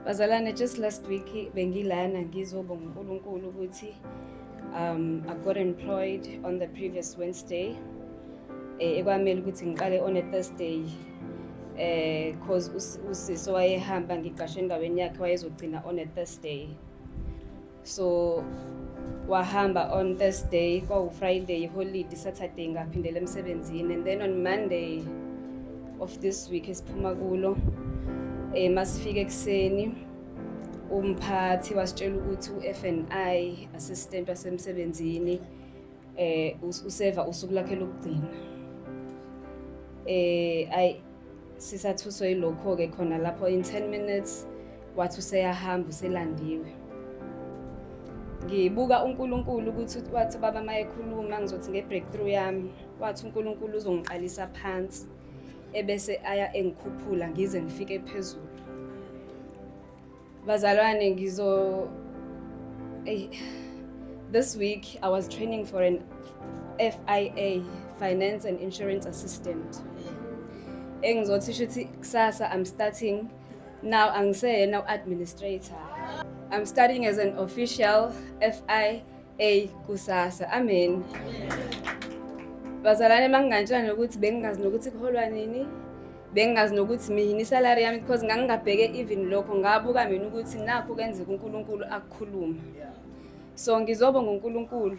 Bazalane just last week bengilana ngizobonga uNkulunkulu ukuthi um I got employed on the previous Wednesday eh ekwamele ukuthi ngiqale on a Thursday eh cause usisi wayehamba ngiqashe endaweni yakhe wayezogcina on a Thursday so wahamba on Thursday kwawu-Friday holiday Saturday ngaphindela emsebenzini and then on Monday of this week esiphuma kulo um masifike ekuseni umphathi wasitshela ukuthi u-FNI assistant wasemsebenzini eh useva usuku lakhe lokugcina eh sisathuswe yilokho-ke khona lapho in 10 minutes wathi useyahamba uselandiwe ngibuka uNkulunkulu ukuthi wathi baba mayekhuluma ngizothi ngebreakthrough yami wathi uNkulunkulu uzongiqalisa phansi ebese aya engikhuphula ngize ngifike phezulu Bazalwane ngizo hey, this week I was training for an FIA Finance and Insurance Assistant. Engizothi shuthi kusasa I'm starting now angiseyena u-administrator. I'm studying as an official FI eyi kusasa amen bazalwane makungantshela nokuthi bengingazi nokuthi kuholwa nini bengingazi nokuthi mina isalari yami because ngangingabheke even lokho ngabuka mina ukuthi nakho kenzeka unkulunkulu akukhuluma so ngizobonga unkulunkulu